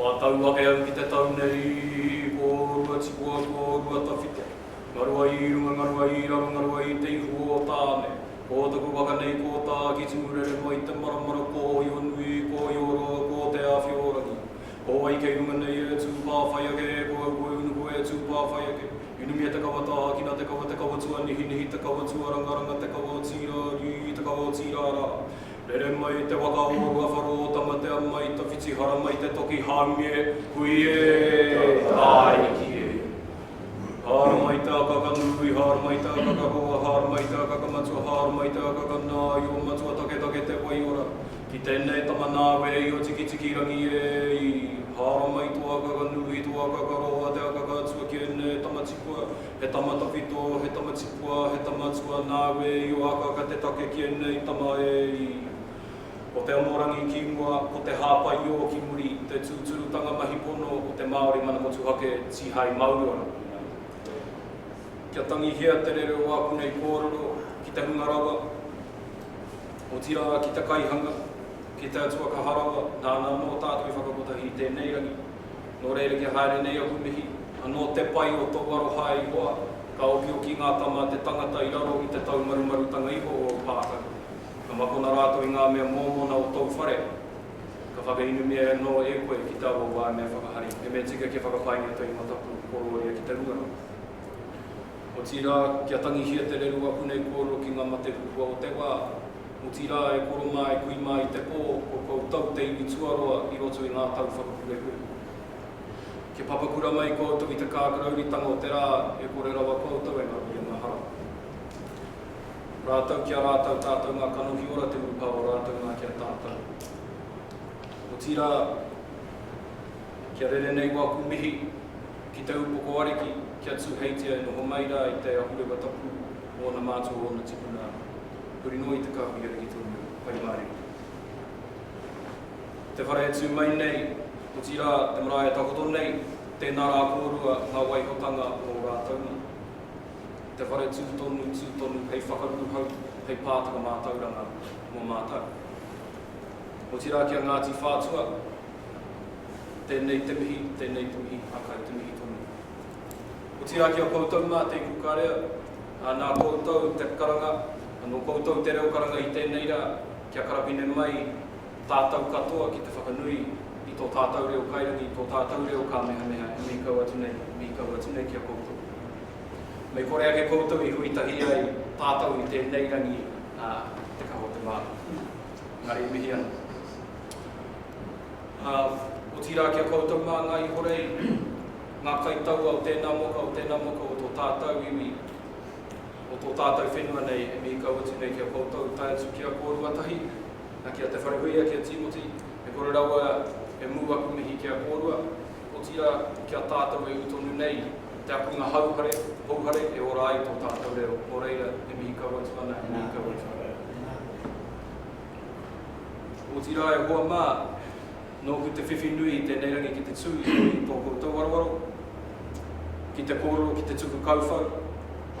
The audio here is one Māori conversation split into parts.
Wā tau ake au ki te tau nei, ko rua tipua, ko rua tawhito. Ngarua i runga, ngarua i raro, ngarua i te ihu o Tāne. Ko taku waka nei ko tā ki Tumurere noa i te maramara ko Ōionui, ko Ioroa, ko Te Āwhiorangi. Ko wai kei runga nei e tū pāwhai ake, ko au koe unu koe e tū pāwhai ake. Inumia te kawa tāhakina te kawa te kawa tuanihinihi te kawa tuarangaranga te kawa o Tīrāriu, te kawa o Tīrārā. Rere mai te waka o Ruawharo o Tamatea mai tawhiti hara mai te toki haumi e, hui e, Tāiki e. Hara mai te akaka nui, hara mai te akaka roa, hara mai te akaka matua, hara mai te akaka nāio, matua taketake te waiora. Ki tēnei tama nāwe e Io Tikitikirangi e, hara mai tō akaka nui, tō akaka roa, te akaka atua ki ēnei tama tipua. He tama tawhito, he tama tipua, he tama atua nāu e io akaaka te take ki ēnei tama e i. Ko te amorangi ki mua, ko te hāpaiō ki muri, te tūturutanga mahi pono o te Māori mana motuhake tihai Māori ora kore mai. Kia tangihia te rere o āku nei kōrero ki te hunga rawa, otirā ki te kaihanga, ki te Atua Kaha Rawa, nāna anō tātou i whakakotahi i tēnei rangi. Nō reira kia haere nei aku mihi, anō te pai o tōu aroha e Ihoa, ka okioki ngā tama a te tangata i raro i te taumarumarutanga iho o ōu pākaru, ka makona rātou i ngā mea mōmona o tōu whare, ka whakainumia anō e koe ki tāua waemenga whakahari, he mea tika kia whakapaingia tōu mataku korōria ki te hunga rau. Otirā, kia tangihia te rerua pune kōrero ki ngā mate huhua o te wā, otirā e koro mā e kui mā i te pō o koutou te iwi tuaroa i roto i ngā tau whakapurepure. Kia papakura mai koutou i te kākarauritanga o te rā e kore rawa koutou e ngaru i a mahara. Rātou ki a rātou tātou ngā kanohi ora te urupā o rātou nā ki a tātou. Otirā, kia rere nei wāku mihi ki te upoko ariki kia tūheitia e noho mai rā i te ahurewa tapu o ōna mātua o ōna tipuna Huri noa i te kāhui ariki tonu Pai Māriki. Te whare e tū mai nei, otirā te marae e takoto nei, tēnā rā kōrua ngā waihotanga o ō rātou mā. Te whare tū tonu, tū tonu hei whakaruruhau, hei pātaka mātauranga mō mātou. Otirā ki a Ngāti Whātua, tēnei te mihi, tēnei te mihi, hākai te mihi tonu. Otirā ki a koutou mā, tēku karea, ā, nā koutou te karanga, nō koutou te reo karanga i tēnei rā, kia karapine mai tātou katoa ki te whakanui i tō tātou reo kairangi, tō tātou reo kāmehameha e mihi kau atu nei, e mihi kau atu nei ki a koutou. Mei kore ake koutou i hui tahi ai tātou i tēnei rangi, ā, te kaha o te māra. Engari e mihi ana. Ā, otirā ki a koutou mā ngā ihorei, ngā kaitaua o tēnā moka, o tēnā moka o tō tātau iwi, o tō tātau whenua nei e mihi kau atu nei ki a koutou, tae atu ki a kōrua tahi, a ki a Te Wharehuia, ki a Tīmoti, e kore rawa e mū aku mihi ki a kōrua, otirā ki a tātau e ū tonu nei te akunga hauhare, houhare e ora ai tō tātau reo, nō reira, e mihi kau atu ana, e mihi kau atu ana. Otirā e hoa mā, Nōku te whiwhi nui i tēnei rangi ki te tū i roto i tō koutou warowaro, ki te kōrero, ki te tuku kauwhau,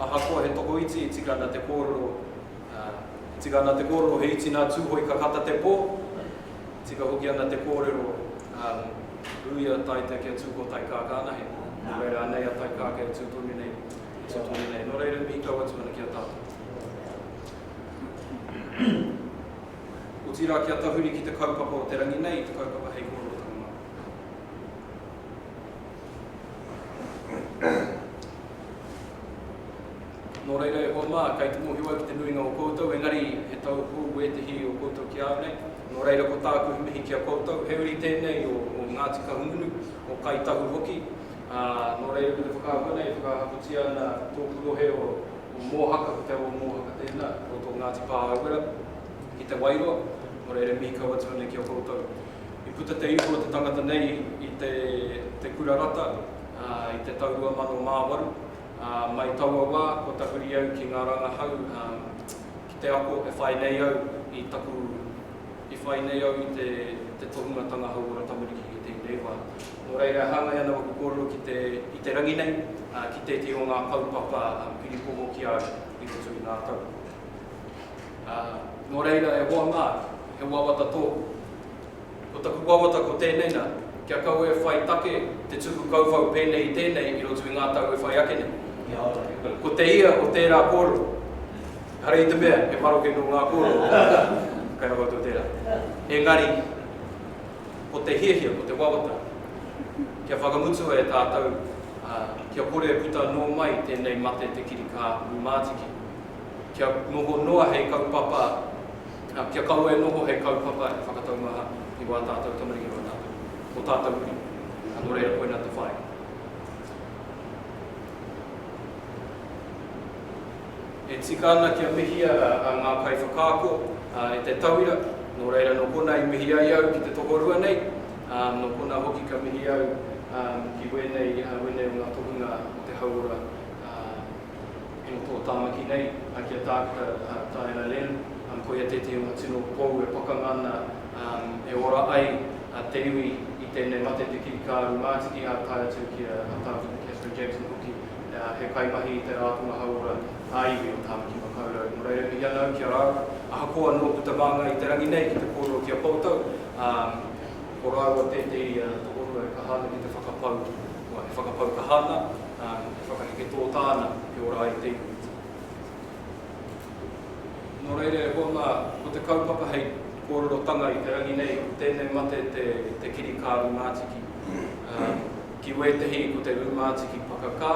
ahakoa he tokoiti e tika ana te kōrero, ā, e tika ana te kōrero he iti nā Tūhoe ka kata te pō, e tika hoki ana te kōrero, ā, ui a Taita kia tū ko Taikākā anahe, nō reira anei a Taikākā e tū tonu nei, e tū tonu nei. Nō reira, mīkau atu ana ki a tātou. otirā kia tahuri ki te kaupapa o te rangi nei i te kaupapa hei kororotanga Māori. Nō reira e hoa mā, kei te mōhio au ki te nuinga o koutou, engari he tau hou wētehi o koutou ki a au nei, nō reira ko tāku he mihi ki a koutou, he uri tēnei o Ngāti Kahungunu, o Kai Tahu hoki, ā, nō reira me te whakaahua nei e whakahakotia ana tōku rohe o o Mōhaka, ko Te Awa o Mōhaka tēnā, i roto o Ngāti Pāhauwera, ki Te Wairoa, nō reira mihi kau atu ana ki a koutou. I puta te ipu o te tangata nei i te te Kura Rata, ā, i te tau 2008, ā, mai taua wā, kua tahuri au ki ngā rangahau, ā, ki te ako e whai nei au i taku, i whai nei au i te te tohungatanga hauora tamariki ki tēnei wā. Nō reira, e hāngai ana ōku kōrero ki te, i te rangi nei, ā, ki tētehi o ngā kaupapa piripoho ki a au i roto i ngā tau. Ā, nō reira, e hoa mā, he wawata tōku. Ko taku wawata ko tēnei nā, kia kaua e whai take te tuku kauwhau pēnei i tēnei i roto i ngā tau e whai ake nei. Kia ora. Ko te ia o tērā kōrero, ehara i te mea he maroke nō ngā kōrero kei roto o tērā. Engari. Ko te hiahia, ko te wawata, kia whakamutua e tātou, ā, kia kore e puta anō mai tēnei mate te kirikā rūmātiki, kia noho noa hei kaupapa, ā, kia kaua e noho hei kaupapa e whakataumaha i wā tātou tamariki, wā tātou, ō tātou uri, ā, nō reira koinā te whāinga. E tika ana kia mihia a ngā kaiwhakaako e te tauira, nō reira nō kona i mihi ai au ki te tokorua nei, ā, nō kona hoki ka mihi au ki wēnei, wēnei o ngā tohunga o te hauora i roto o Tāmaki nei, a ki a Tākuta Taera Lynn, koia tētehi o ngā tino pou e pakanga ana e ora ai te iwi i tēnei mate te kirikāru mātiki ā tae atu ki a Tākuta Catherine Jackson hoki. he kaimahi i te Rātonga Hauora ā-Iwi o Tāmaki Makaurau. Nō reira, mihi ana au ki a rāua, ahakoa nō puta māngai i te rangi nei ki te kōrero ki a koutou, ā, ko rāua tētehi tokorua e kaha ana ki te whakapau, e whakapau kaha ana, ā, e whakaheke tōtā ana kia ora ai te iwi. Nō reira, e hoa mā, ko te kaupapa hei kōrerotanga i te rangi nei, ko tēnei mate te kiri kāri mātiki. Ki wētehi ko te rūmātiki pakakā,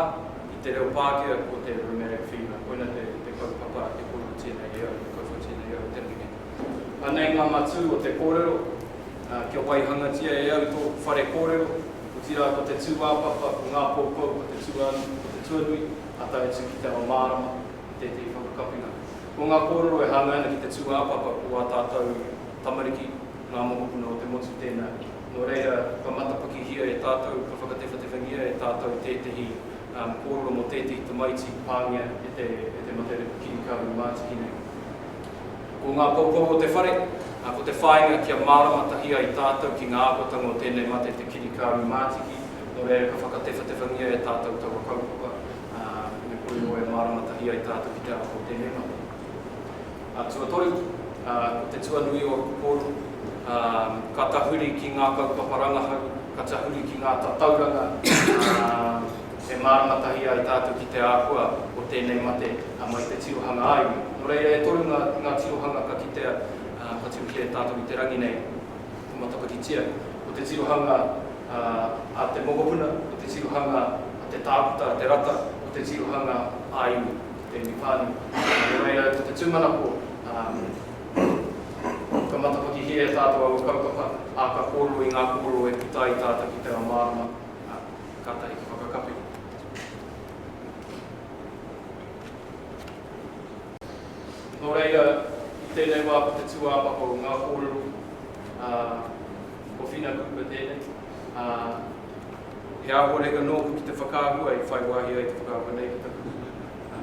i te reo Pākehā ko te rheumatic fever, koina te te kaupapa a te kōrua tēnei reo, te kauwha tēnei reo, te mene. Anei ngā matū o te kōrero, ā, kia waihangatia e au tōku whare kōrero, otirā ko te tūāpapa, ko ngā poupou, ko te tuānu, ko te tuanui, ā tae atu ki te ao mārama, i tētehi whakakapinga. Ko ngā kōrero e hāngai ana ki te tūāpapa ko wā tātou tamariki, ngā mokopuna o te motu tēnā. Nō reira, kua matapakihia e tātou, kua whakatewhatewhangia e tātou tētehi kōrero mō tētehi tamaiti pāngia e te mate repu kirikāhui mātiki nei. Ko ngā poupou o te whare, ko te whāinga kia mārama tahi ai tātou ki ngā āhuatanga o tēnei mate te kirikāhui mātiki, nō reira ka whakatewhatewhangia e tātou taua kaupapa me kore noa e mārama tahi ai tātou ki te āhua o tēnei mate. a tuatoru, ā, ko te tuanui o Rukuporu, ā, ka tahuri ki ngā kaupapa rangahau, ka tahuri ki ngā tatauranga, ā, e mārama tahi ai tātou ki te āhua o tēnei mate, ā, mai te tirohanga ā-iwi. Nō reira, e toru ngā, ngā tirohanga ka kitea, ā, ka tū ki a tātou i te rangi nei, ka matapakitia. Ko te tirohanga, ā, a te mokopuna, ko te tirohanga a te tākuta, a te rata, ko te tirohanga ā-iwi. Thank you Pani. Nō reira au ko te tūmanako, ā, ka matapakihia e tātou aua kaupapa, ā, ka kōrero i ngā kōrero e puta ai tātou ki te ao mārama, ā, kātahi ka whakakapi. Nō reira, i tēnei wā ko te tūāpapa o ngā kōrero, ā, ko Whina Cooper tēnei. ā, he āhuareka nōku ki te whakaahua i whai wāhi ai te whakaahua nei ki taku,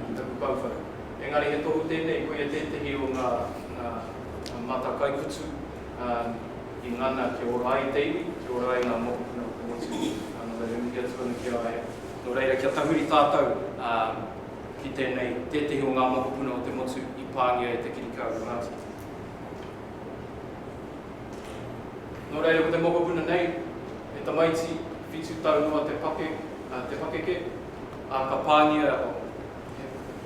ki taku kauwhau. Engari he tohu tēnei, koia tētehi o ngā, ngā mata kaikutu, ā, i ngana kia ora ai te iwi, kia ora ai ngā mokopuna o te motu, ā, nō reira e mihi atu ana ki a ia. Nō reira, kia tahuri tātou, ā, ki tēnei, tētehi o ngā mokopuna o te motu i pāngia e te kirikāu o Ngāti. Nō reira, ko te mokopuna nei, he tamaiti whitu tau noa te pake, te pakeke, ā, ka pāngia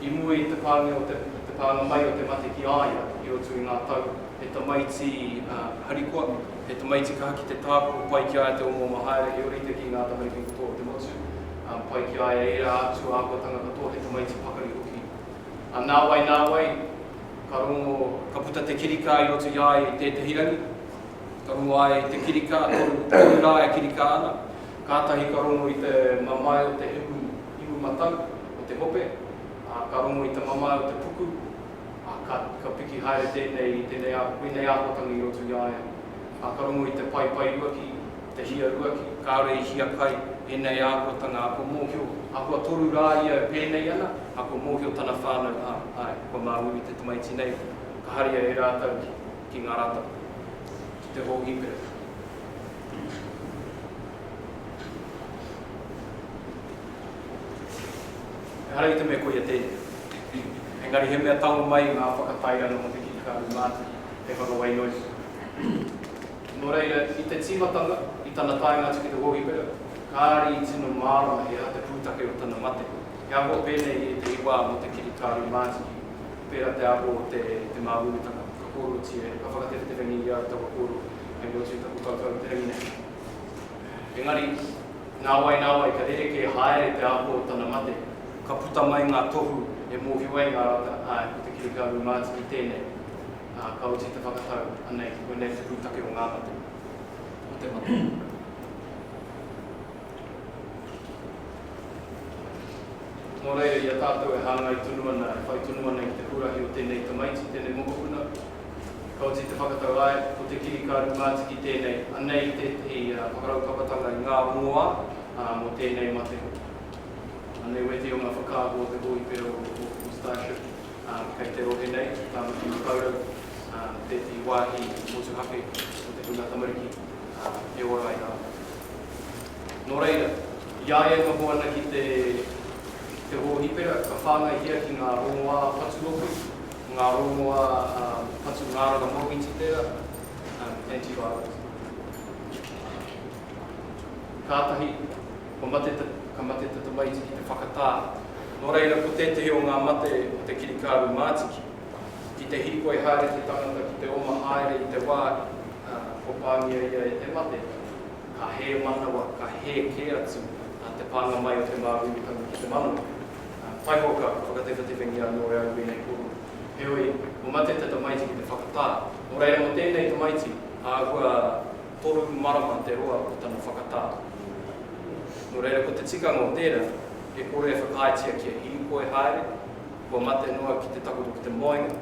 i mua i te pāngia o te, te pānga mai o te mate ki a ia i roto i ngā tau, he tamaiti harikoa, he tamaiti kaha ki te tākoko, pai ki a ia te omoma haere, he orite ki ngā tamariki katoa o te motu, pai ki a ia ērā atu āhuatanga katoa, he tamaiti pakari hoki A nāwai nāwai, ka rongo, ka puta te kirikā i roto i a ia i tētehi rangi, ka rongo a ia i te kirikā, toru, toru rā e kirikā ana, kātahi ka rongo i te mamae o te himu, himu matau, o te hope, ā, ka rongo i te mamae o te puku, ā, ka, ka piki haere tēnei i tēnei, koinei āhuatanga i roto i a ia, ā, ka rongo i te paepae ruaki, Te Hiaruaki, kāore i hiakai ēnei āhuatanga ako mōhio, ahakoa toru rā ia e pēnei ana, ako mōhio tana whānau, ā, āe, kua māuiui te tamaiti nei, ka haria e rātou ki, ki ngā rātapa, ki te hōhipera. Ehara i te mea koia tēnei. Engari he mea tango mai ngā whakatairanga mō te kikikaru mātaki hei whakawainoi. Nō reira, i te tīmatanga, i tana taenga atu ki te hōhipera, kāre i tino mārama he aha te pūtake o tana mate. He aho pēnei i ētehi wā mō te kiri kāri mātiki, pērā te aho o te te māuiuitanga, ka kōrerotia e, ka whakatereterengia i a au taua kōrero hei motu i taku kaukau i te rangi nei. Engari, nāwai nāwai ka rerekē haere te aho o tana mate, ka puta mai ngā tohu e mōhio ai ngā rata, āe, ko te kiri kāri mātiki tēnei. Ā, ka oti te whakatau, anei, koinei te pūtake o ngā mate, o te mate. Nō reira, i a tātou e hāngai tonu ana, e whai tonu ana i te huarahi o tēnei tamaiti, tēnei mokopuna, ka oti te whakatau, āe, ko te kirikaru mātiki tēnei, anei tētehi whakaraupapatanga i ngā rongoā mō tēnei mate hoki. Anei wētehi o ngā whakaahua o te hōhipera o Starship. Kei te rohe nei, ki Tāmaki Makaurau, tētehi wāhi motuhake o te hunga tamariki e ora ai rāua. Nō reira, i a ia e noho ana ki te hōhipera, ka whāngaihia ki ngā rongoā patu oku, ngā rongoā patu ngārara mōmiti tērā, antivirals. Kātahi Kua mate te, ka mate te tamaiti ki te whakatā. Nō reira, ko tētehi o ngā mate ko te kirikāru mātiki. Ki te hīkoi haere te tangata ki te oma haere i te wā, ā, kua pāngia ia e te mate, ka hē manawa, ka hē kē atu te pānga mai o te māuiutangi ki te manawa. Ā, taihoka, ka whakatewhetewhengia anō e au ēnei kōrero. Heoi, kua mate te tamaiti ki te whakatā. Nō reira, mō tēnei tamaiti, āhua Toru marama te roa o tana whakatā. Nō reira, ko te tikanga o tērā, e kore e whakaaetia kia hīkoi haere, kua mate noa ki te takoto ki te moenga,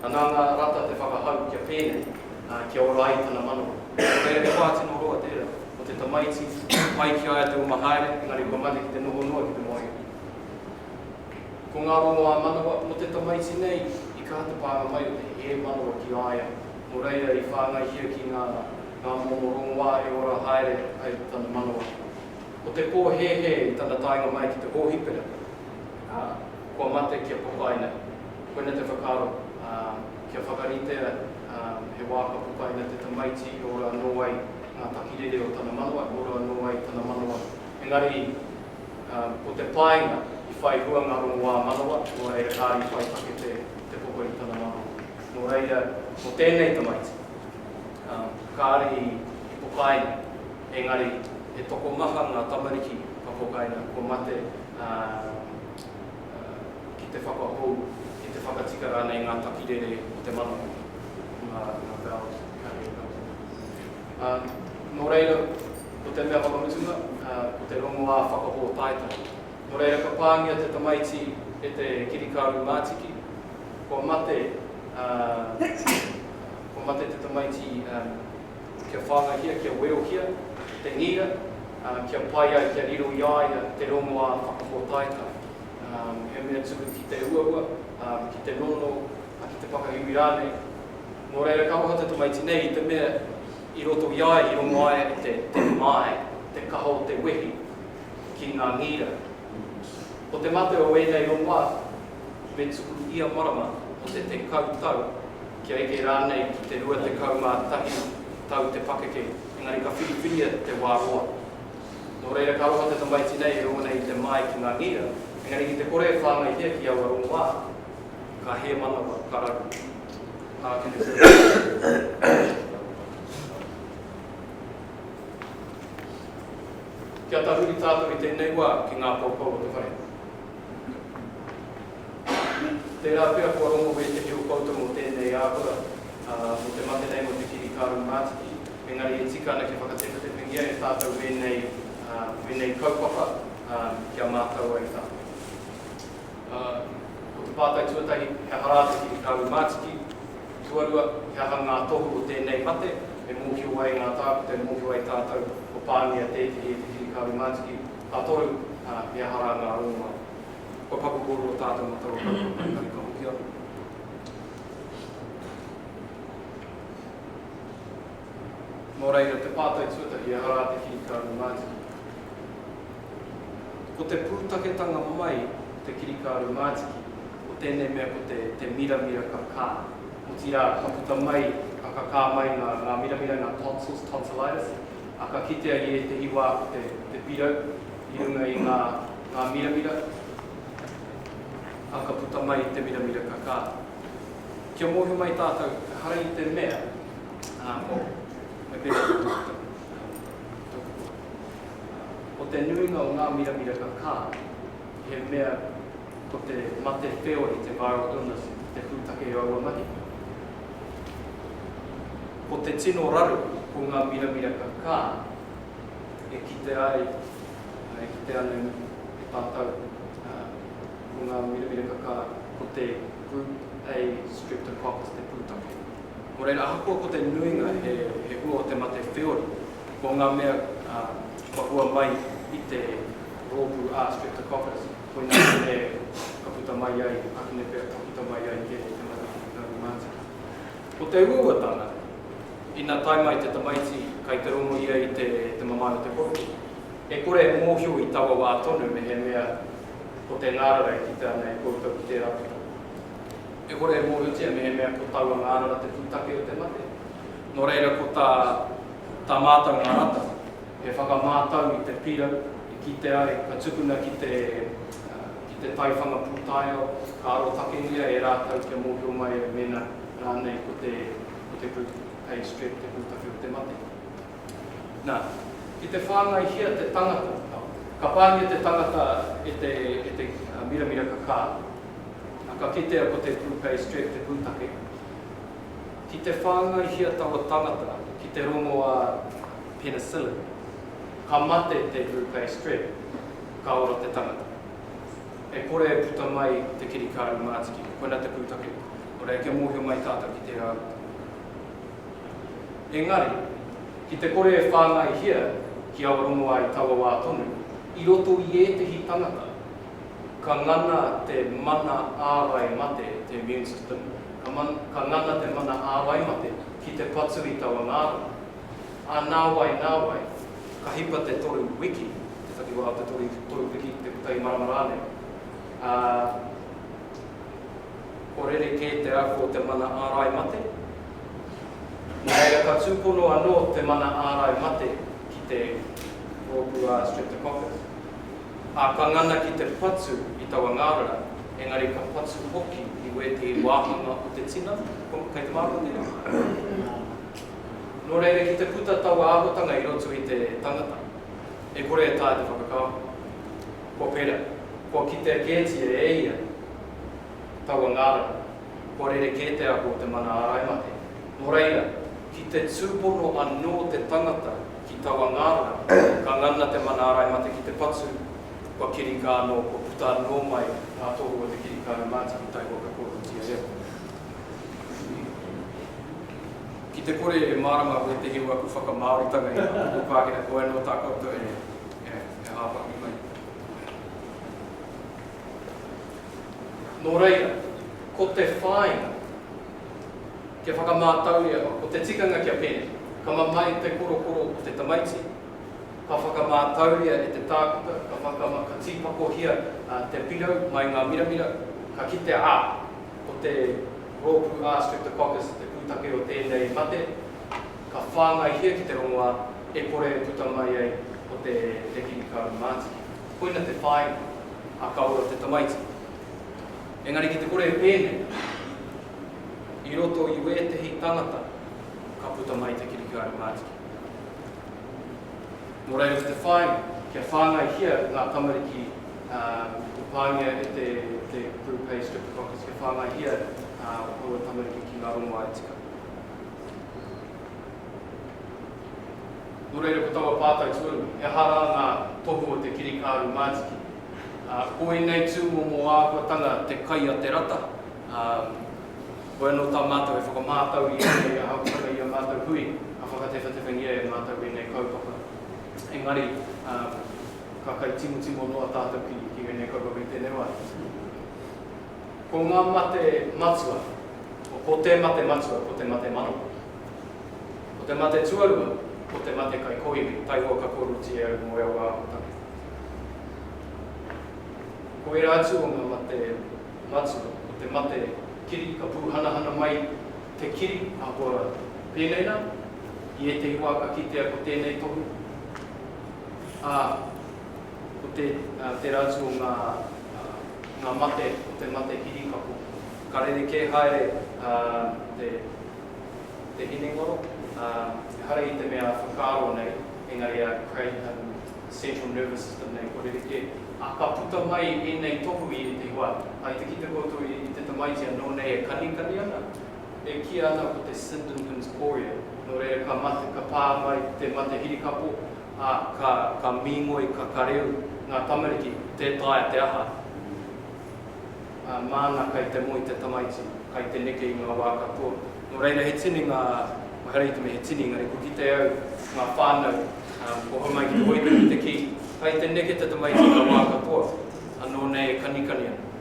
anā ngā rata te whakahau kia pēnei, ā, kia ora ai tana manawa. Nō reira, he wā tino roa tērā o te tamaiti, pai ki a ia te oma haere, engari kua mate ki te noho noa ki te moenga. Ko ngā rongoā manawa mō te tamaiti nei, i kaha te pānga mai o te hē manawa ki a ia, nō reira i whāngaihia ki ngā ngā momo rongoā e ora haere ai tana manawa. Ko te pōhēhē i tana taenga mai ki te hōhipera, ā, kua mate kia papai nei. Koina te whakaaro, ā, kia whakaritea, ā, he wā ka papai nei te tamaiti e ora anō ai ngā takirere o tana manawa, e ora anō ai tana manawa. Engari, ā, ko te painga i whai hua ngā rongoā manawa, nō reira kāore i whai take te papa i tana manawa. Nō reira, mō tēnei tamaiti, kāre i pokaina, engari he tokomaha ngā tamariki ka pokaina kua mate, ā, ki te whakahou, ki te whakatika rānei ngā takirere o te mana hoki. Nā, nā Bells ka rere kau tonu. Ā, nō reira, ko te mea whakamutunga, ā, ko te rongoā whakapōtaetae. Nō reira, ka pāngia te tamaiti e te kirikāru mātiki. Kua mate, ā, kua mate te tamaiti, ā, kia whāngahia, kia weohia te ngira, ā, kia pai ai, kia riro i a ia te rongoā whakapōtaetae, ā, he mea tuku ki te uaua, ā, ki te nono, ā, ki te whakaiwi rānei. Nō reira, ka roha te tamaiti nei i te mea i roto i a ia, i rongo ai e te, te mamae, te kaha o te wehi ki ngā ngira. Ko te mate o ēnei rongoā, me tuku ia marama o te tekau tau, kia eke rānei ki te rua tekau mā tahi tau te pakeke, engari ka whiriwhiria te wā roa. Nō reira ka roa te tamaiti nei e rongo nei i te māi ki ngā ngira, engari ki te kore e whāngaihia ki aua rongoā, ka hē manawa, ka raru. Ākene te tamaiti. Kia tahuri tātou i tēnei wā ki ngā poupou o te whare. Tērā pea kua rongo wētehi o koutou mō tēnei āhua, ā, mō te mate nei, mō te kiri kāru mātiki, engari e tika ana kia whakatewhetewhengia e tātou wēnei, ā, wēnei kaupapa, ā, kia mātau ai tātou. Ā, ko te pātai tuatahi, he aha rā te kiri kāru mātiki? Tuarua, he aha ngā tohu o tēnei mate e mōhio ai ngā tākuta, e mōhio ai tātou kua pāngia tētehi e te kiri kāru mātiki? A toru, ā, he aha rā ngā rongoā? Kua paku kōrero tātou mō taua kaupapa parihaka ka hoki atu. Nō reira, te pātai tuatahi, he aha rā te kirikāro mātiki? Ko te pūtaketanga mai o te kirikāro mātiki, ko tēnei mea ko te, te miramira kakā. Otirā, ka puta mai, ka kakā mai ngā, ngā miramira, ngā tonsils, tonsillitis, ā, ka kitea i ētehi wā ko te, ko te pirau i runga i ngā, ngā miramira, ā, ka puta mai i te miramira kakā. Kia mōhio mai tātou, ehara i te mea, ā, ko, me pēhea te tangata, ā, tōku pō, ā, ko te nuinga o ngā miramira kakā, he mea, Ko te mate wheori te viral illness te pūtake i aua mahi. Ko te tino raru ko ngā miramira kakā e kite ai, e kite ana e tātou ko ngā miramira kakā ko te Group A Streptococcus te pūtake. Nō reira, ahakoa ko te nuinga he hua o te mate wheori, ko ngā mea kua hua mai i te rōpū A Streptococcus, Koinā te ka puta mai ai, ahune pea ka puta mai ai kē te mahi i Ngāi Mātiki. Ko te uauatanga, ina tae mai te tamaiti kai te rongo ia i te te mamae o te poroki, e kore e mōhio i taua wā tonu mehemea ko te ngārara e kite ana e koutou ki tērā puta. E kore e mōhiotia mehemea ko taua ngārara te pūtake o te mate. Nō reira ko tā tā mātau ngā rata. He whakamātau i te pirau, i kite ai, ka tukuna ki te ki te taiwhanga pūtaiao, ka arotakengia e rātou kia mōhio mai ai mēnā rānei ko te ko te group pay strip te pūtawhi o te mate. Nā, ki te whāngaihia te tangata, ka pāngia te tangata e te e te miramira ka kā, ā, ka kitea ko te group pay strip te pūtake. Ki te whāngaihia taua tangata ki te rongoā. penicillin, ka mate te Hupei strep, ka ora te tangata. E kore e puta mai te kirikāru mātiki, koina te pūtake, o reira kia mōhio mai tātou ki tērā atu tangata. Engari, ki te kore e whāngaihia ki awa rongo ai taua wā tonu, i roto i ētehi tangata, ka ngana te mana ārai mate, te immune system, ka ngana te mana ārai mate ki te patu i taua ngārara. Ā, nāwai, nāwai, ka hipa te toru wiki, te takiwā o te toru, toru wiki ki te kotahi marama rānei, ā, kua rerekē te ako o te mana ārai mate. Nō reira, ka tūpono anō te mana ārai mate ki te rōpū a Streptococcus, ā, ka ngana ki te patu i taua ngārara, engari ka patu hoki i wētehi wāhanga o te tina, kei te mārama tēnei? Nō reira, ki te puta taua āhuatanga i roto i te tangata, e kore e taea te whakakaonga. Kua pērā, kua kitea kētia e ia taua ngārara, kua rerekē te ako o te mana āraimate. Nō reira, ki te tūpono anō te tangata ki taua ngārara, ka ngana te mana āraimate ki te patu, kua kirikā anō, kua puta anō mai ngā tohu o te kirikāu mātiki tae kua kakohutia e au. Ki te kore e mārama koe te hiu aku whakamāoritanga i a Ako Pākehā, koe anō tā koutou e hāpaki mai. Nō reira, ko te whāinga, kia whakamātauria noa, ko te tikanga kia pēnei, ka mamae te korokoro o te tamaiti, ka whakamātauria e te tākuta, ka makama, ka tīpakohia te pirau mai ngā miramira, ka kitea, ā, ko te. rōpū A. streptococcus te pūtake o tēnei mate, ka whāngaihia ki te rongoā e kore e puta mai ai ko te nekini karu mātiki. Koina te whāinga, a ka ora te tamaiti. Engari ki te kore e pēnei, i roto i wētehi tangata ka puta mai te kirikaru mātiki. Nō reira ki te whāinga, kia whāngaihia ngā tamariki i pāngia e te Group Pay Streptococcus, kia whāngaihia aua tamariki ki ngā rongoā e tika. Nō reira ko taua pātai tuarua, he aha rā ngā tohu o te kirikāru mātiki? Ko ēnei tūmomo āhuatanga te kai a te rata, Hoi anō tā mātou e whakamātau i ēnei ahakoa i ā mātou hui, ka whakatewhatewhengia e mātou ēnei kaupapa. Engari, ka kai timotimo noa tātou ki ēnei kaupapa i tēnei wā. Ko ngā mate matua, ko te mate matua, ko te mate manawa. Ko te mate tuarua, ko te mate kai kōiwi, taihoa ka kōroti e au mō ea wā aho take. Ko ērā atu o ngā mate. Matua, ko te mate kiri ka pūhanahana mai te kiri ahakoa rātou. Pēnei nā, i ētehi wā ka kitea ko tēnei tohu, ā, ko te, ā, tērā atu o ngā, ā, ngā mate o te mate kiri ka pō. Ka rerekē haere, ā, te, te hinengaro, ā, ehara i te mea whakaaro nei, engari ā, kei, ā, the central nervous system nei, kua rerekē. Ā, ka puta mai ēnei tohu i ētahi wā. Hai te kite koutou i te tamaiti anō nei e kanikani ana, e kīa ana ko te Sindemann's chorea. Nō reira, ka mate, ka pā mai te mate hirikapo, ā, ka, ka mīngoi, ka kareu ngā tamariki, tē taea te aha. ā, māna kai te moe te tamaiti, kai te neke i ngā wā katoa. Nō reira, he tini ngā, mahara i te mea he tini, engari kua kitea au, ngā whānau, ā, kua homai ki te hoiho ki te kī, kai te neke te tamaiti i ngā wā katoa, anō nei e kanikani ana.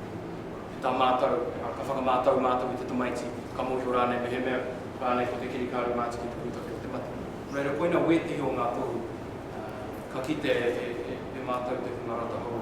E tā mātou, ā, ka whakamātau mātou i te tamaiti, ka mōhio rānei mehemea rānei ko te kirikāri mā te ki te pūtake o te mate. Nō reira, koina wētehi o ngā tohu, ā, ka kite e mātou te hunga rata hou.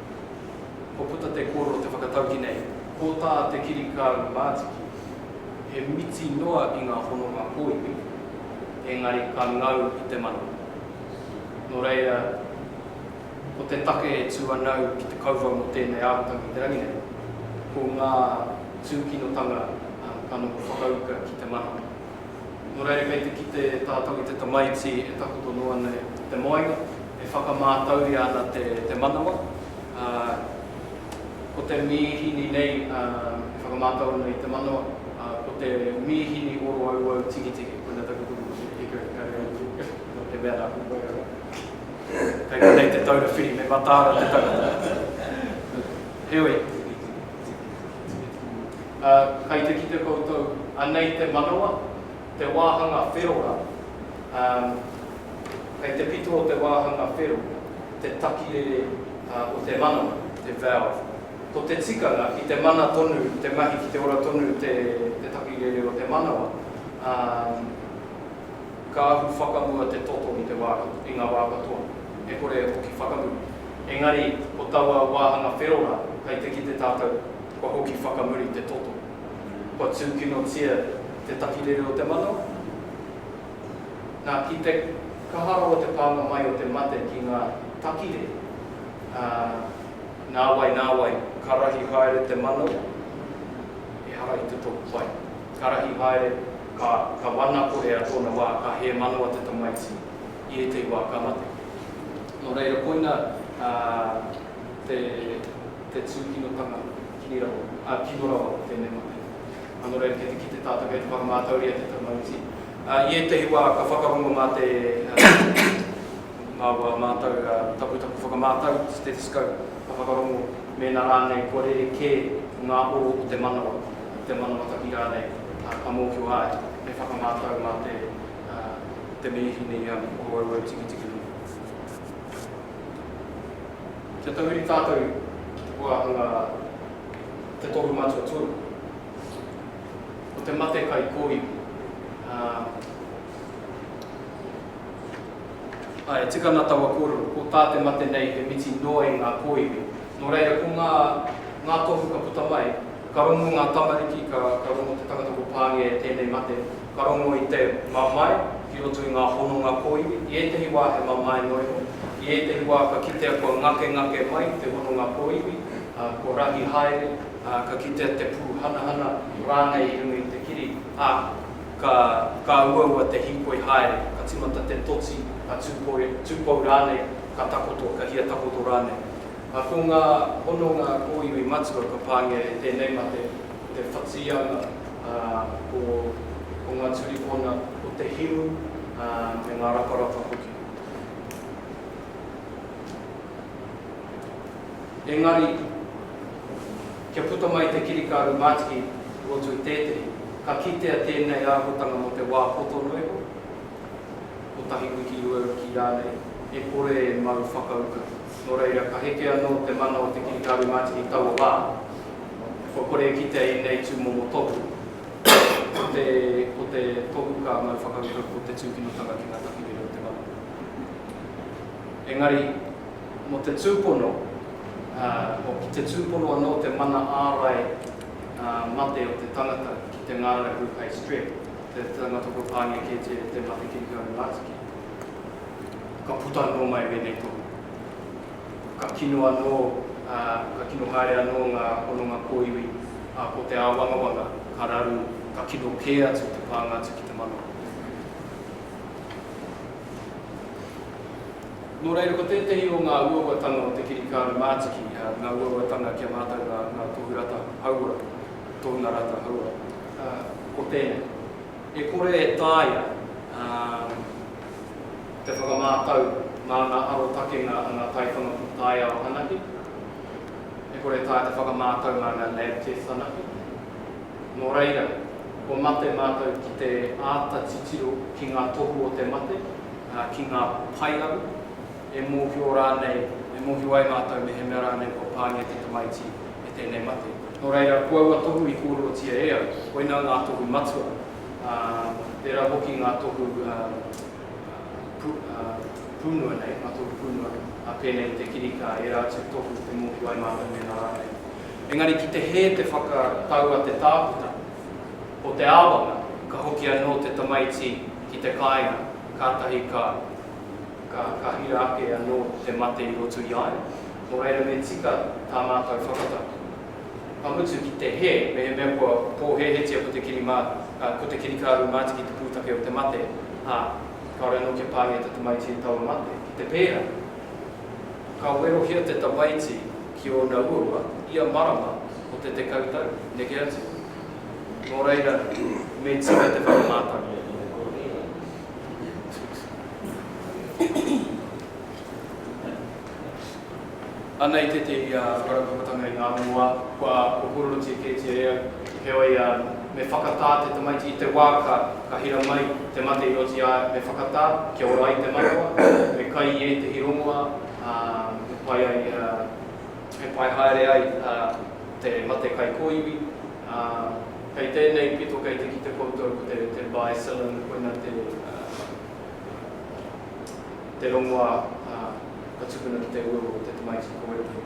Kua puta te kōrero te whakatauki nei, ko tā te kirikāuru mātiki, he miti noa i ngā hononga kōiwi, engari ka ngau i te mano. Nō reira, ko te take e tū anau ki te kauwhau mō tēnei arotau i te rangi nei, ko ngā tūkinotanga ka noho whakauka ki te mano. Nō reira kei te kite tātou i te tamaiti e takoto noa nei te moenga, e whakamātauria ana te manawa, ā, ko te mīhini nei e whakamātau ana i te manawa, ā, ko te mīhini oro auau tigitigi, koinā taku kupu ko te hika hika reo i te nō te mea nā ko Moeroa. Kei konei te taura whiri, me mataara te tangata. Heoi. Ā, kai te kite koutou, anei te manawa, te wāhanga whero rā, ā, kai te pito o te wāhanga whero, te takirere o te manawa, te valve. Ko te tikanga, ki te mana tonu te mahi, ki te ora tonu te takirere o te manawa, ā, ka ahu whakamua te toto i te wā, i ngā wā katoa, e kore e hoki whakamua. Engari, ko taua wāhanga whero rā, hei te kite tātou, kua hoki whakamuri te toto. Kua tūkinotia te takirere o te mano? Nā, ki te kaha rawa te pānga mai o te mate ki ngā takirere, ā, nāwai nāwai ka rahi haere te mano, ehara i te tō pai. Ka rahi haere, ka, ka wanakohea tōna wā, ka hē manawa te tamaiti, i ētahi wā ka mate. Nō reira koina te tūkinotanga kino rawa, kino rawa te mema nei. Nō reira kei te kite tātou kei te whakamātauria te tamariki. I ētahi wā ka whakarongo mā te mā wā mātou taputapu whakamātau, stethoscope, ka whakarongo mēnā rānei kua rere kē ngā oro o te manawa, te manawa taki rānei ka mōhio ai me whakamātau mā te Ā, ko tēnei hine i āna kōauau tikitiki hoki. Kia tahuri tātou ki te wāhanga Te Tohu Matua Tonu. Ko te mate kai kōiwi, ā, ā, e tika ana taua kōrero, ko tā te mate nei he miti noa i ngā kōiwi. Nō reira, ko ngā, ngā tohu ka puta mai, ka rongo ngā tamariki, ka, ka rongo te tangata ko Pāngia e tēnei mate, Ka rongo i te mamae ki roto i ngā hononga kōiwi, i ētehi wā he mamae noenga, i ētehi wā ka kitea kua ngakengake mai te hononga kōiwi, ā, kua rahi haere, ā, ka kitea te pūhanahana rānei i runga i te kiri, ā, ka, ka uaua te hīkoi haere, ka tīmata te toti, ka tūpoi, tūpou rānei, ka takoto, ka hia takoto rānei. Ā, ko ngā hononga kōiwi matua ka pāngia e tēnei mate, te Whatiana, ā, ko, ko ngā turikona, ko te himu, ā, me ngā raparapa hoki. Engari, kia puta mai te kirikaru mātiki i roto i tētehi, ka kitea tēnei āhuatanga mō te wā poto noa iho, kotahi wiki, rua wiki rānei, e kore e mau whakauka. Nō reira, ka heke anō te mana o te kirikā rūmātiki i taua wā. E whai kore e kitea i ēnei tūmomo tohu, ko te, ko te tohu ka mau whakaurua ko te tūkinotanga ki ngā takirere o te mana. Engari, mō te tūpono, ā, o ki te tūpono anō te mana ārai, ā, mate o te tangata ki te ngārahu hei strep, te tangata kua pāngia kētia e te mate kirikā rūmātiki. ka puta anō mai wēnei tohu. Ka kino anō, ā, ka kino haere anō ngā hononga kōiwi, ā, ko te āwangawanga ka raru, ka kino kē atu te pānga atu ki te manawa. Nō reira, ko tētehi o ngā uauatanga o te kirikāra mātiki, ngā uauatanga ki a mātou ngā tohu rata hauora, tohunga rata hauora, ko tēnei. E kore e taea te whakamātau mā ngā arotakenga a ngā taiwhanga taiao anake, e kore e taea te whakamātau mā ngā lab tests anake. Nō reira, kua mate mātou ki te āta titiro ki ngā tohu o te mate, ki ngā paearu, e mōhio rānei, e mōhio ai mātou mehemea rānei kua pāngia te tamaiti me tēnei mate. Nō reira, ko aua tohu i kōrerotia e au, koinā ngā tohu matua, ā, tērā hoki ngā tohu pūnua nei, ngā tohu pūnua, ā, pēnei i te kirikā, ērā atu tohu e mōhio ai mātou mēnā rānei. Engari ki te hē te whakatau a te tākuta, ko te āwanga, ka hoki anō te tamaiti ki te kāinga, kātahi ka. Ka, ka hira ake anō te mate i roto i a ia. Nō reira me tika tā mātou whakataki. Ka mutu ki te hē, mehemea kua pōhēhetia ko te kirimā, ā, ko te kirikāru mātiki te pūtake o te mate, ā, kāore anō kia pāngia te tamaiti e taua mate. Ki te pērā, ka werohia te tamaiti ki ōna uaua ia marama o te tekau tau, neke atu. Nō reira, me tika te whakamātau. Anei tētehi whakaraupapatanga i ngā moa kua kōkōrorotia kētia e au, heoi, me whakatā te tamaiti i te wā ka ka hira mai te mate i oti ā, me whakatā kia ora ai te manawa, me kai i ētehi rongoā ā, he pai ai, he pai haere ai te mate kai kōiwi. Ā, kei tēnei pito kei te kite koutou ko te, te Baisalon, koina te, ā, te rongoā, ā, ka tukuna ki te ua o te tamaiti ki Koete.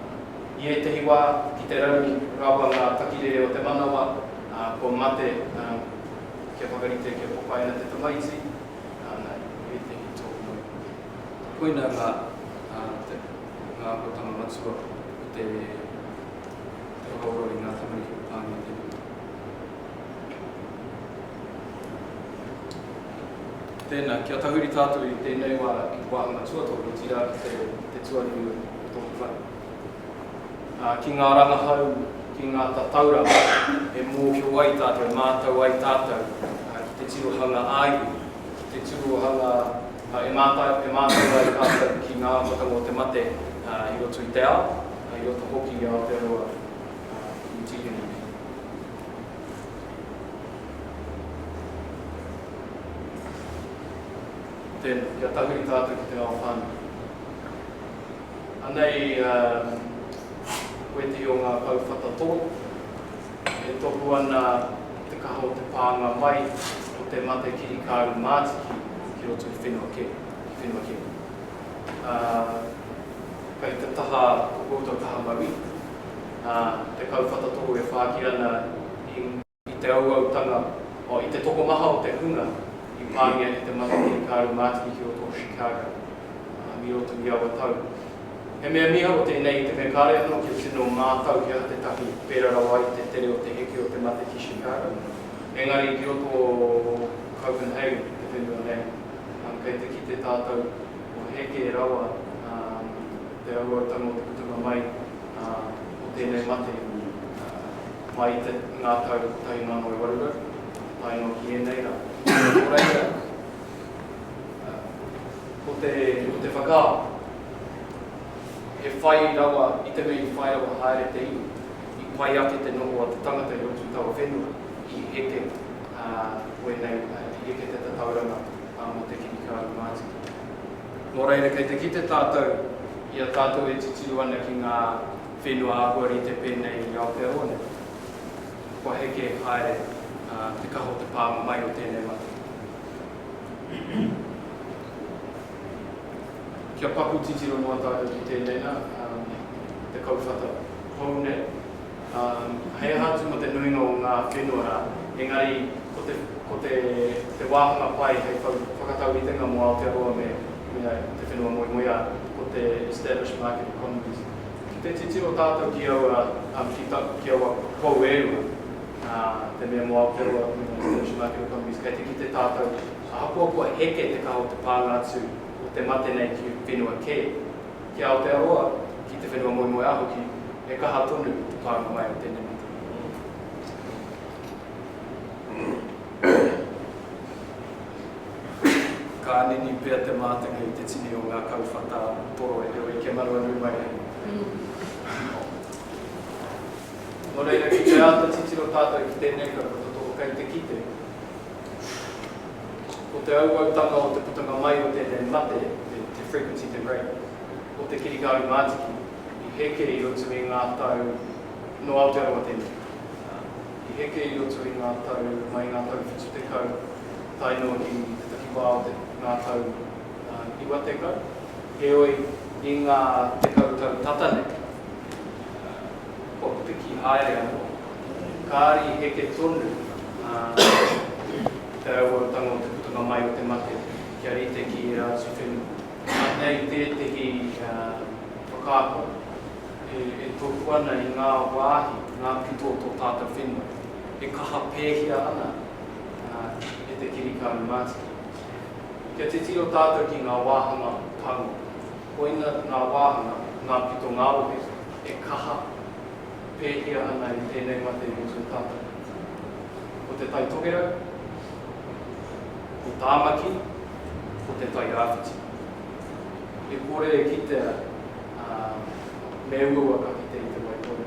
Ā, i ētehi wā, ki te rangi, rawa ngā takirere o te manawa, ā, kua mate, ā, kia whakarite kia popaina te tamaiti, ā, nā, i ētehi tōu moe hoki. Koina ngā, ā, te, ngā akotanga matua o te. Te whakaora i ngā tamariki o Tāne Tepuna. Tēnā, kia tahuri tātou i tēnei wā i te wāhanga tuatoru, otirā ki te, te tuanui o tōku whare. Ā, ki ngā rangahau, ki ngā tatauranga e mōhio ai tātou, e mātau ai tātou ki te tirohanga ā-iwi, ki te tirohanga E mātau, e mātau ai tātou ki ngā ahuatanga o te mate i roto i te ao, i roto hoki i Aotearoa ki te tīpuna nei. Tēnā, kia tahuri tātou ki te ao whānui. Anei koe te i o ngā kauwhata tō. E tohu ana te kaha o te pānga mai o te mate kirikāru mātiki ki roto i whenua kē, i whenua kē. Ā, kei te taha o koutou kaha mauī, ā, te kauwhata tōu e whāki ana i. I te auautanga, oh, i te tokomaha o te hunga i pāngia e te mate kirikāru mātiki ki roto o Chicago, ā, i roto i aua tau. He mea miharo tēnei i te mea kāre anō kia tino mātau he aha te tahi pērā rawa i te tere o te heke o te mate ki Chicago, engari i roto o Copenhagen i te whenua nei, kei te kite tātou kua heke rawa te rauautanga o te putunga mai o tēnei mate mai i te ngā tau 1800 tae noa ki ēnei rā. Nō reira, ko te whakaaro. He whai rawa i te mea i whai rawa haere te iwi, i pai ake te noho a te tangata i roto i taua whenua, i heke wēnei, i heke te tatauranga mō te kiri kāri mātiki. Nō reira, kei te kite tātou i a tātou e titiro ana ki ngā whenua āhua rite pēnei i Aotearoa nei, kua heke haere te kaha o te pānga mai o tēnei matenga. Kia paku titiro noa tātou ki tēnei nā, te kauwhata hou nei, hei aha atu mō te nuinga o ngā whenua rā, engari ko te wāhanga pai hei whakatauritenga mō Aotearoa me te whenua moemoeā, ko te established market economies. Ki te titiro tātou ki aua, ki aua pou e rua, te mea mō Aotearoa me ngā established market economies, kei te kite tātou, Ahakoa kua heke te kaha o te pānga atu o te mate nei ki whenua kē, ki Aotearoa, ki te whenua moemoeā hoki, he kaha tonu te pānga mai o tēnei mate. Ka nini pea te mātenga i te tini o ngā kauwhata toro e rere kia manu anui mai ai. Nō reira, ki te āta titiro tātou ki tēnei kau, ko te toko kei te kite. Ko te auautanga o te putanga mai o tēnei mate, te frequency, te rate, o te kirikāuru mātiki i heke i roto i ngā tau, nō Aotearoa tēnei, i heke i roto i ngā tau mai i ngā tau 70 tae noa ki te takiwā o te ngā tau 90, heoi, i ngā tekau tau tata nei, kua piki haere anō. Kāri heke tonu ā te rauautanga o te putanga mai o te mate kia rite ki ērā atu whenua. Anei tētehi whakaako e tohu ana i ngā wāhi, ngā pito o tō tātou whenua, e kaha pēhia ana e te kirikāne mātiki. Kia titiro tātou ki ngā wāhanga pānga, koina ngā wāhanga, ngā pito ngā rohe e kaha. pēhia ana i tēnei mate mō tō tātou mate. Ko Te Tai Tokerau, ko Tāmaki, ko Te Tai Rāwhiti. E kore e kitea, ā, me uaua ka kite i te wai tonu.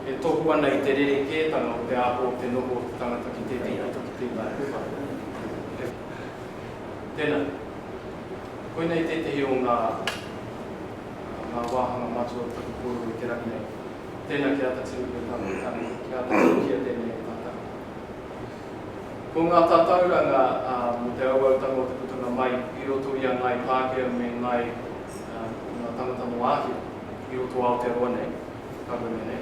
E tohu ana i te rerekētanga o te aho o te noho o te tangata ki tētehi pito ki tēnei pito. He. Tēnā. Koinei tētehi o ngā. o ngā wāhanga matua tapu kōrero i te rangi nei. Tēnā ki āta tino pēnā ngā tāne, ki āta tirohia tēnei e tātau. Ko ngā tatauranga mō te auautanga o te putanga mai i roto i a Ngāi Pākehā me Ngāi, ngā tangata nō Āhia i roto o Aotearoa nei, ka wene nei,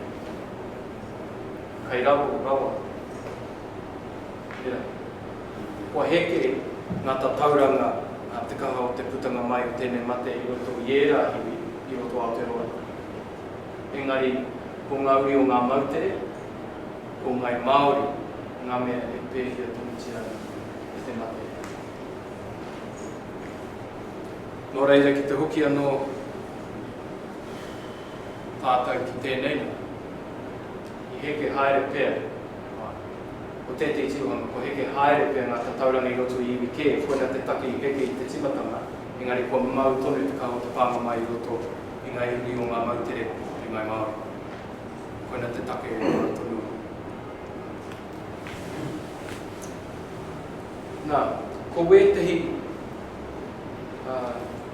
kei raro rawa. Tērā. Kua heke ngā tatauranga a te kaha o te putanga mai o tēnei mate i roto i ērā iwi i roto o Aotearoa. Engari, ko ngā uri o ngā moutere, ko ngai Māori ngā mea e pēhia tonutia ana e te mate. Nō reira, ki te hoki anō tātou ki tēnei la, i heke haere pea. o tētehi tirohanga, kua heke haere pea ngā tatauranga i roto i iwi kē, koina te take i heke i te tīmatanga, engari kua mau tonu te kaha o te pānga mai i roto i ngā iwi o ngā moutere o te Ngāi Māori. Koina te take e mau tonu ana. Nā, ko wētehi, ā,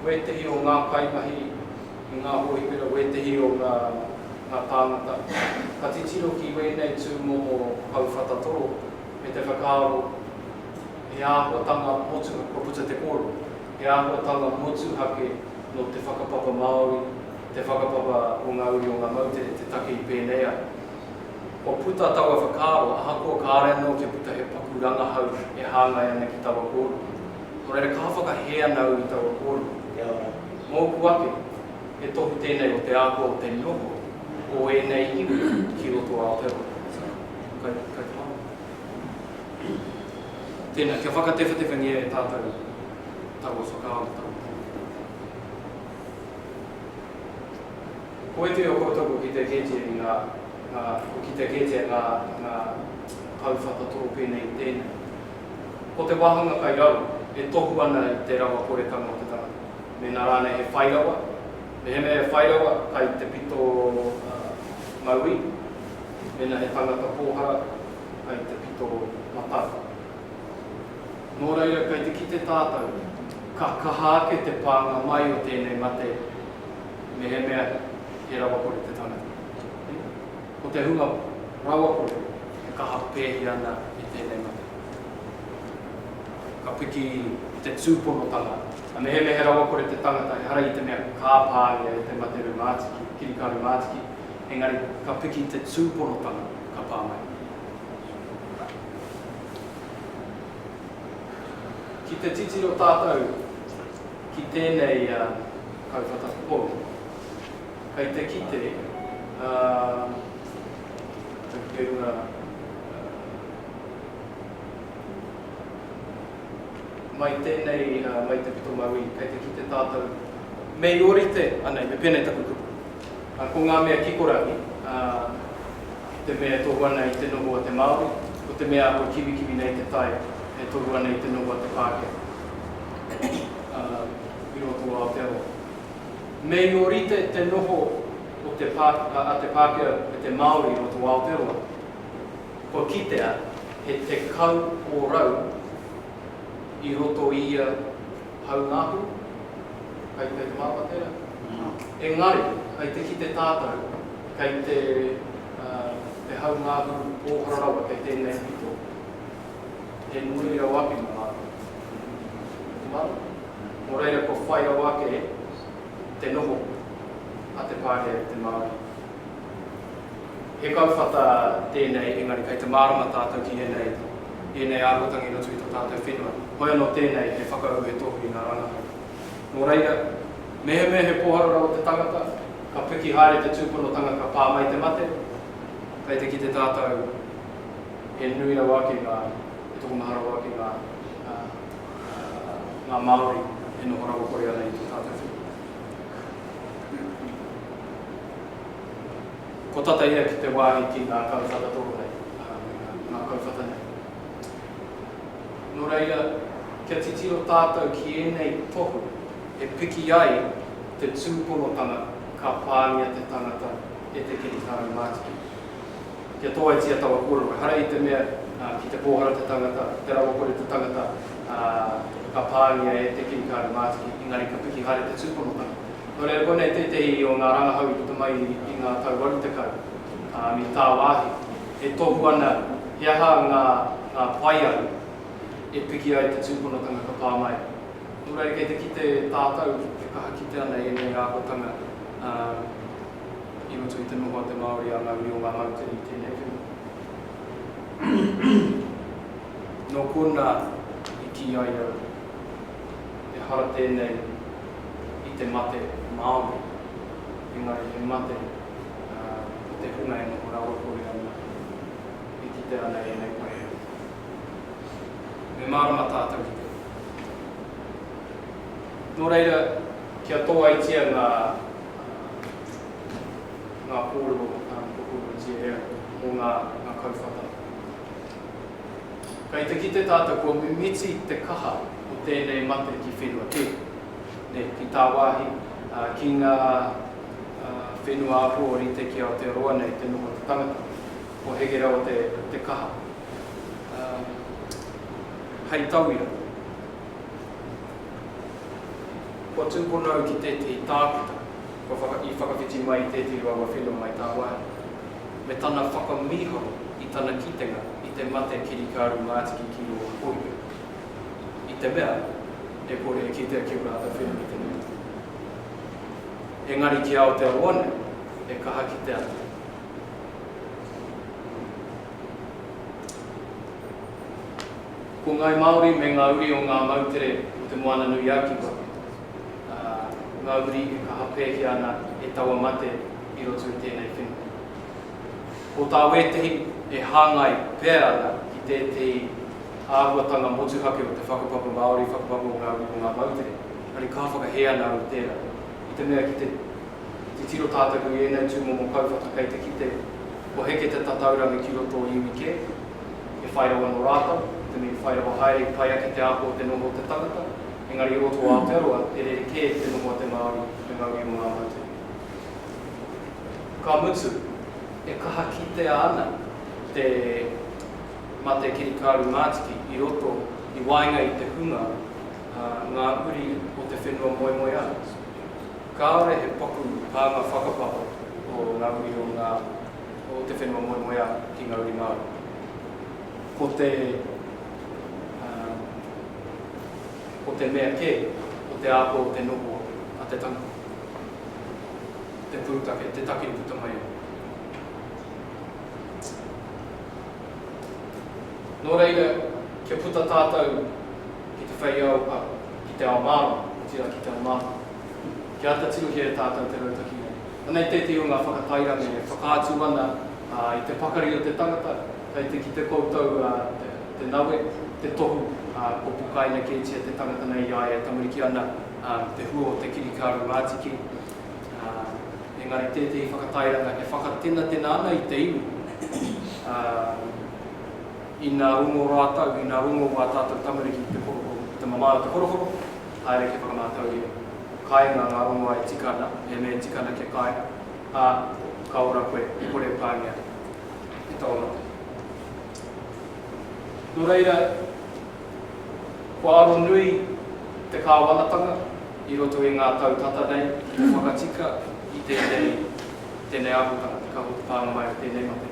wētehi o ngā kaimahi, i ngā hōhipera wētehi o ngā ngā tāngata ka titiro ki wēnei tūmomo hau whatatō me te whakaaro he āhuatanga motuha kua puta te kōrero he āhuatanga motuhake nō te whakapapa Māori te whakapapa o ngā uri o ngā moutere te take i pēnei ai kua puta taua whakaaro ahakoa kāre anō kia puta he paku rangahau e hāngai ana ki taua kōrero nō reira ka whakahē ana au i taua kōrero. Kia ora. Mōku ake, he tohu tēnei o te āhua o te noho o ēnei iwi ki roto Aotearoa. Kai, kai te manu. Tēnā, kia whakatewhatewengia e tātou taua whakaaro, taua Ko ētehi o koutou kua kitea kētia i ngā, ngā, kua kitea kētia ngā, ngā kauwhata toro pēnei i tēnei. Ko te wāhanga kai rawa, e tohu ana i te rawa horekano o te tangata, mēnā rānei he whai rawa, mehemea he whai rawa kai te pito mauī, mēnā he tangata pōhara kai te pito matau. Nō reira kai te kite tātou, ka kaha ake te pānga mai o tēnei mate mehemea he rawakore te tangata. Ko te hunga rawakore e kaha pēhi ana i tēnei mate, ka piki i te tūponotanga. Ka mehemea he rawakore te tangata, ehara i te mea ka pāngia e te mate rūmātiki, kirikā rūmātiki, engari ka piki i te tūponotanga, ka pā mai. Ki te titiro tātou ki tēnei kauwhata pou. kei te kite, ā, kei te runga, ā, mai tēnei, ā, mai te pito mauī, kei te kite tātou, me i ōrite, anei, me pēnei taku kupu. Ā, ko ngā mea kikorangi, ā, ki te mea e tohu ana i te noho a te Māori, ko te mea ako kiwikiwi nei te tai e tohu ana i te noho a te Pākehā, ā, i roto o Aotearoa. Me i orite te noho o te a te Pākehā me te Māori i roto o Aotearoa. Kua kitea he tekau ōrau i roto i ia haunaahu, kai te mārama tērā? Engari, kai te kite tātou, kai te te haunaahu pōhara rawa kei tēnei pito, he nui rau ake mō mātou. Te mārama? Nō reira kua whai rawa ake te noho a te Pākehā ki te Māori. He kauwhata tēnei engari kei te mārama tātou ki ēnei, ēnei āhuatanga i roto i tō tātou whenua. Hoi anō tēnei he whakaū, he tohu i ngā rangahau. Nō reira, mehemea he pōhara rawa te tangata, ka piki haere te tūponotanga ka pā mai te mate, kei te kite tātou he nui rawa ake ngā, he tokomaha rawa ake ngā. ngā Māori e noho rawakore ana i te tātawhiri. Ko tata ia ki te wāhi ki ngā kau whakatoro nei, ngā kau whata nei. Nō reira, kia titiro tātou ki ēnei tohu e piki ai te tūponotanga ka pāngia te tangata e te kiritārau mātiki. Kia tōaitia taua kōrero ehara i te mea ki te pōhara te tangata, te rawakore te tangata, ā, ka pāngia e te kirikāne mātiki, engari ka piki haere te tūponotanga. Nō reira, konei tētehi o ngā rangahau i puta mai i ngā tau 80, ā, me tāwāhi, e tohu ana he aha ngā, ngā paearu e piki ai te tūponotanga ka pā mai. Nō reira, kei te kite tātou e kaha kite ana ēnei āhuatanga, ā, i roto i te noho a te Māori a ngā uri o ngā Moutere i tēnei puna. Nō konā i kī ai au, ehara tēnei i te mate Māori, engari he mate o te hunga e noho rawakore ana, e kite ana i ēnei waiho. Me mārama tātou ki te hunga. Nō reira, kia tōaitia ngā. ngā kōrero tokonuitia e au mō ngā kauwhata. Kei te kite tātou kua mimiti te kaha o tēnei mate ki whenua kē, nē, ki tāwāhi, ki ngā whenua ahu o rite ki Aotearoa nei te noho te tangata. Ko Hege rawa te kaha. Hei tauira. Kua tūpono au ki tētehi tākuta kua whaka, i whakawhiti mai i tētehi o aua whenua mai tāwāhi, me tana whakamīharo i tana kitenga i te mate kirikāru mātiki ki rō hōia, i te mea, e kore e kitea ki ō rātou whenua i te mea atu. Engari ki Aotearoa nei, he kaha ki te ata. Ko Ngāi Māori me ngā uri o ngā moutere o Te Moananui-a-Kiwa ngā uri e kaha pēhia ana e taua mate i roto i tēnei whenua. Ko tā wētehi e hāngai pea ana ki tētehi āhuatanga motuhake o te whakapapa Māori, whakapapa o ngā uri o ngā moutere, engari kaha whakahē ana au i tērā, i te mea ki te titiro tātaku i ēnei tūmomo kauwhata kei te kite kua heke te tataurangi ki roto o iwi kē, e whai rawa nō rātou, i te mea i whai rawa haere i pai ake te āhua o te noho o te tangata, engari i roto o Aotearoa, e rerekē te noho a te Māori me ngā uri o ngā motu. Ka mutu, e kaha kitea ana te mate kirikāru mātiki i roto, i waenga i te hunga, ā, ngā uri o te whenua moemoeā. Kāore he paku pānga whakapapa o ngā uri o ngā. o te whenua moemoeā ki ngā uri Māori. Ko te, ā, ko te mea kē, ko te āhua o te noho a te tangata, te pūtake, te take i puta mai ai. Nō reira, kia puta tātou ki te whei ao, ā, ki te ao mārama, otirā ki te ao māhua, kia āta tirohia e tātou te rautaki nei. Anei tētehi o ngā whakatairanga e whakaatu ana i te pakari o te tangata, kei te kite koutou te nawe, te tohu, kua pukaina kētia te tangata nei i a ia e tamariki ana me te hua o te kirikāru rātiki, engari tētehi whakatairanga e whakatenatena ana i te iwi, ina rongo rātou, ina rongo wā tātou tamariki ki te korokoro, ki te mamae o te korokoro, haere ki whakamātauria, kāinga ngā rongoā e tika ana, he mea e tika ana kia kai, ā, ka ora koe, e kore e pāngia e taua mate. Nō reira, kua aro nui te kāwanatanga i roto i ngā tau tata nei ki te whakatika i tēnei, tēnei āhuatanga, te kahu o te pānga mai o tēnei mate.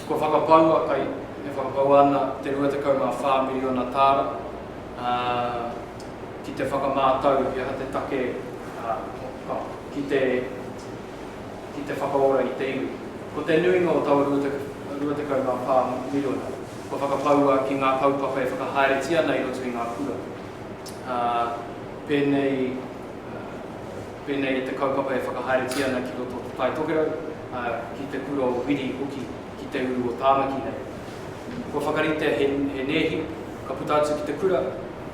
Kua whakapaua kai, e whakapaua ana te 24 miriona tāra ki te whakamātau he aha te take ki te whakaora i te iwi. Ko te nuinga o taua 24 miriona, kua whakapaua ki ngā kaupapa e whakahaeretia ana i roto i ngā kura, pēnei. pēnei i te kaupapa e whakahaeretia ana ki roto o Te Tai Tokerau, ā, ki te kura o Wiri hoki ki te uru o Tāmaki nei. Kua whakaritea he, he nēhi ka puta atu ki te kura,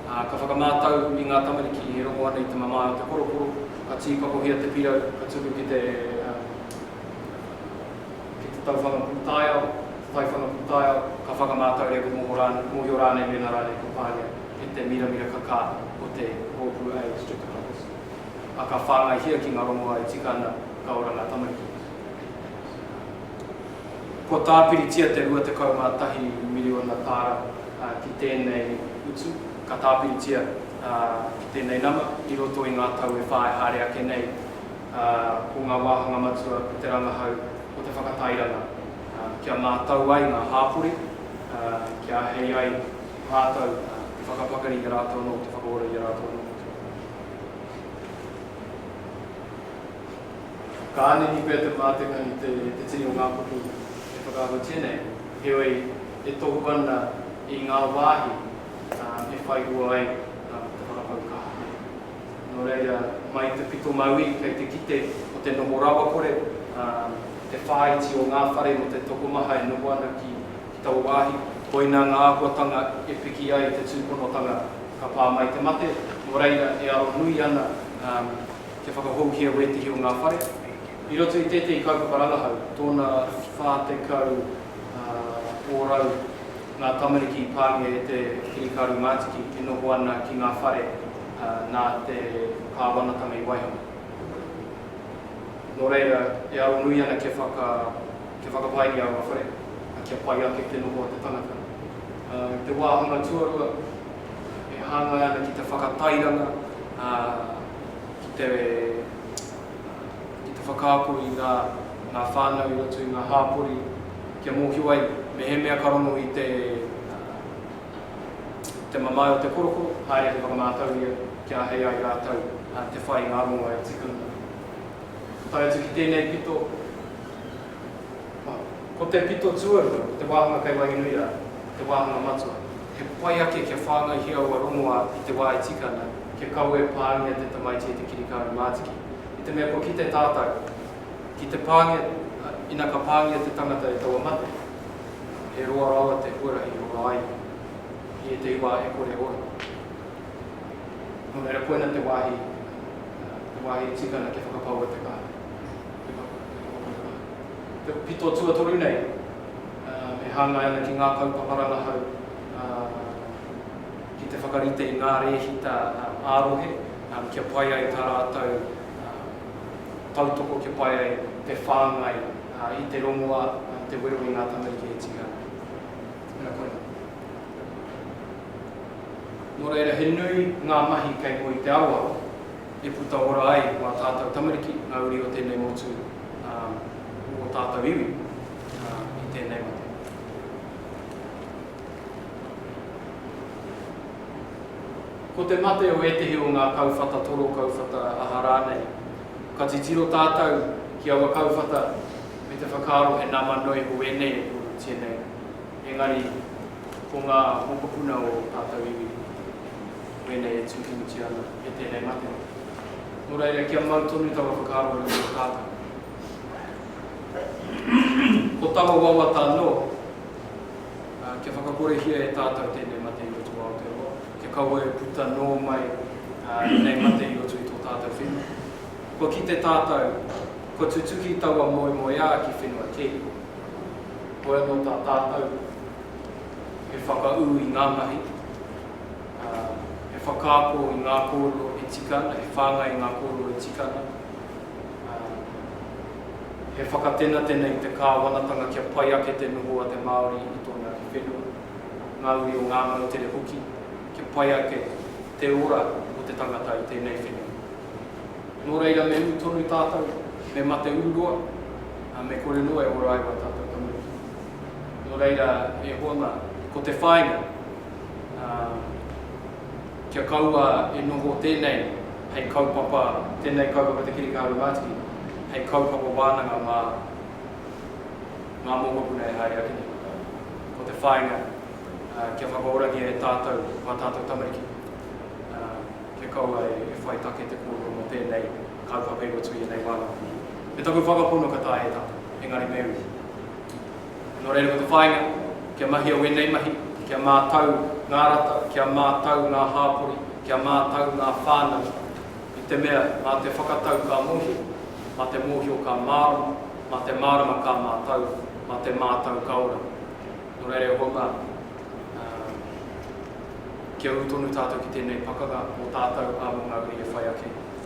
ā, ka whakamātau i ngā tamariki e rongo ana i te mamae o te poroporo, ka tīpakohia te pirau ka tuku ki te, ā, ki te tauwhanga pūtaiao, te taiwhanga pūtaiao, ka whakamātau reo ka moho rānei, mōhio rānei mēnā rānei kua pāngia e te miramira kakā o te rōpū a East Streptococcus. a ka whāngaihia ki ngā rongoā e tika ana ka ora ngā tamariki. Kua tāpiritia te 21 miriona tāra ki tēnei utu, ka tāpiritia ki tēnei nama i roto i ngā tau e whā e haere ake nei, ko ngā wāhanga matua ko te rangahau, ko te whakatairanga, kia mātau ai ngā hāpori, kia ahei ai rātou te whakapakari i a rātou anō, te whakaora i a rātou anō. Ka angitu pea te mātenga i te tini o ngā kupu e whakaahutia nei, heoi, e tohu ana i ngā wāhi e whai hua ai te whakapau kaha nei. Nō reira, mai i te pito Mauī kei te kite ko te noho rawakore te whāiti o ngā whare mō te tokomaha e noho ana ki i taua wāhi, koinā ngā āhuatanga e piki ai te tūponotanga ka pā mai te mate, nō reira e aro nui ana kia whakahouhia wētehi o ngā whare. I roto i tētehi kaupapa rangahau, tōna 40 ōrau ngā tamariki i pāngia e te kirikaru mātiki e noho ana ki ngā whare nā te kāwanatanga i waihanga. Nō reira, e aro nui ana kia whaka. Te whakapae i aua whare, a kia pai ake te noho a te tangata. I te wāhanga tuarua, e hāngai ana ki te whakatairanga, ki te whakaako i ngā whānau i roto i ngā hāpori, kia mōhio ai mehemea ka rongo i te mamae o te korokoro, haere ki whakamātau ia kia ahei ai rātou te whai i ngā rongo e tika ana. Tae atu ki tēnei pito, Ko te pito tuarua, ko te wāhanga kei Wahinuia te wāhanga matua. He pai ake kia whāngaihia ua rongoā i te wā e tika ana, kia kaua e pāngia te tamaiti e te kirikāru mātiki. I te mea kua kite tātau, ki te pāngia, ina ka pāngia te tangata e taua mate, he roa rawa te huarahi i hora ai i ētehi wā e kore ora. Nō reira koina te wāhi, te wāhi e tika ana kia whakapaua te kaha. Te pito tuatoru nei e hāngai ana ki ngā kaupapa rangahau ki te whakarite i ngā rēhita ā-rohe kia pai ai tā rātou tautoko, kia pai ai te whāngai i te rongoā, i te wero i ngā tamariki e tika ana. Ina koa nei. Nō reira, he nui ngā mahi kei mua i te aroaro. e puta ora ai mā tātou tamariki ngā uri o tēnei motu, ā, o ō tātou iwi, ā, i tēnei mate. Ko te mate o ētehi o ngā kauwhata toro, kauwhata aha rānei, ka titiro tātou ki aua kauwhata me te whakaaro he nama noa iho ēnei e pūrutia nei, engari ko ngā mokopuna o ō tātou iwi wēnei e tūkinutia ana. e tēnei mate. Nō reira, kia mau tonu taua whakaaro e rua tātou. Ko taua wawata anō, kia whakakorehia e tātou tēnei mate i roto o Aotearoa, kia kaua e puta nō mai ēnei mate i roto i tō tātou whenua. Kua kite tātou, kua tutuki taua moemoeā ki whenua kē. Hoi anō tā tātou, he whakaū i ngā mahi. ā, he whakaako i ngā kōrero e tika ana, he whāngai i ngā kōrero e tika ana, ā, he whakatenatena i te kāwanatanga kia pai ake te noho a te Māori i tōna iwi whenua, ngā uri o ngā moutere hoki, kia pai ake te ora o te tangata i tēnei whenua. Nō reira, me ū tonu tātou, me mate ururoa, ā, me kore noa e ora ai ō tātou tamariki. Nō reira, e Hōna, ko te whāinga! ā, kia kaua e noho tēnei hei kaupapa, tēnei kaupapa Te Kirihika Arumātiki, hei kaupapa wānanga mā ngā mokopuna e haere ake nei. Ko te whāinga, ā, kia whakaorangia e tātou ngā tātou tamariki, ā, kia kaua e whai take te kōrero mō tēnei kaupapa i roto i ēnei wānanga. Me taku whakapono ka taea e tātou, engari me ū. Nō reira ko te whāinga, kia mahia wēnei mahi, kia mātau ngā rata, kia mātau ngā hāpori, kia mātau ngā whānau, i te mea mā te whakatau ka mōhio, mā te mōhio ka mārama, mā te mārama ka mātau, mā te mātau ka ora. Nō reira e hoa mā, kia ū tonu tātou ki tēnei pakanga mō tātou, ā, mō ngā uri e whai ake.